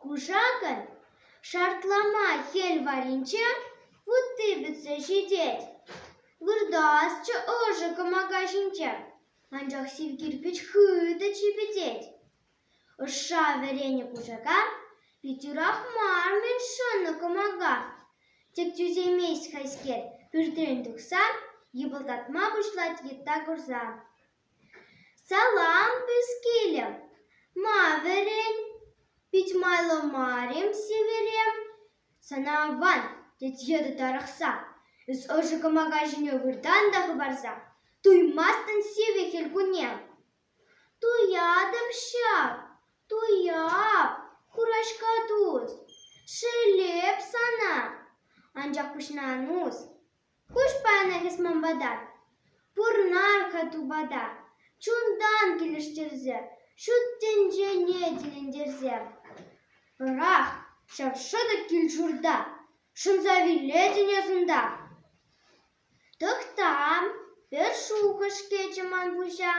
Кушакӑн шартлама хӗл варринче вутти пӗтсе ҫитет. Выртасчӗ ӑшӑ кӑмака ҫинче, анчах сив кирпӗч хытӑ чӗпӗтет. Ӑшша вӗренӗ кушака пит юрах мар-мӗн шӑннӑ кӑмака. Тек тӳсеймест хайскер, пӳртрен тухсан, йӑпӑлтатма пуҫлать йытта курса. Салам, пӗскилӗм, ма вӗрен? Пит майлӑ мар-им сивӗрем? Сана аван, тет йытӑ тарӑхса, эс ӑшӑ кӑмака ҫине выртан та хӑпарса, туймастӑн сивӗ хӗл кунне. Туятӑп ҫав, туяп, хураҫка тус, шеллеп сана, анчах пуҫна ан ус. Куҫ панӑ эс ман пата, пурӑнар-ха тупата, чунтан килӗштерсе, ҫут тӗнчене тӗлӗнтерсе. Пӑрах, ҫав шӑтӑк кил-ҫурта, шӑнса вилетӗн асӑнта. Тӑхтам, пӗр шухӑш-кӗчӗ ман пуҫа,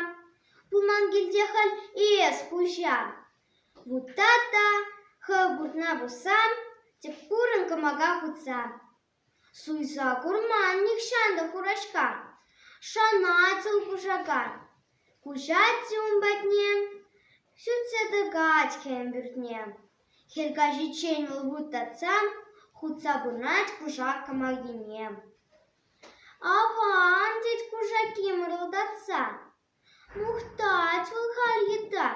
пулман килте халь эс хуҫа. Вутата, хӑв путна пусам, тӗп курӑн кӑмака хутса. Суйса курман нихҫан та хураҫка, шӑнатсӑн кушакан. Куҫать-и ун патне, сӳтсе тӑкать хӗм пӳртне. Хӗл каҫиччен вӑл вут татса, хутса пынать кушак кӑмакине. Аван, тет кушаки мӑрӑлтатса. Мухтать вӑл халь йыта,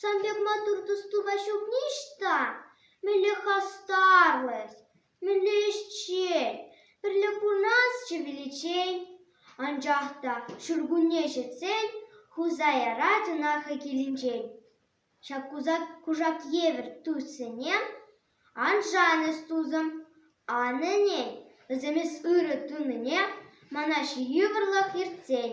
сан пек маттур тус-тупа ҫукни ӑҫта? Мӗнле хастарлӑх, мӗнле ӗҫчен, пӗрле пурӑнасчӗ виличчен. Анчах та ҫуркунне ҫитсен хуса ярать ӑна хӑй килӗнчен. Ҫак кушак евӗр туссене ан шан эс, тусӑм. Ан ӗнен, вӗсем эс ырӑ тунине мана ҫывӑрлӑх ертсен.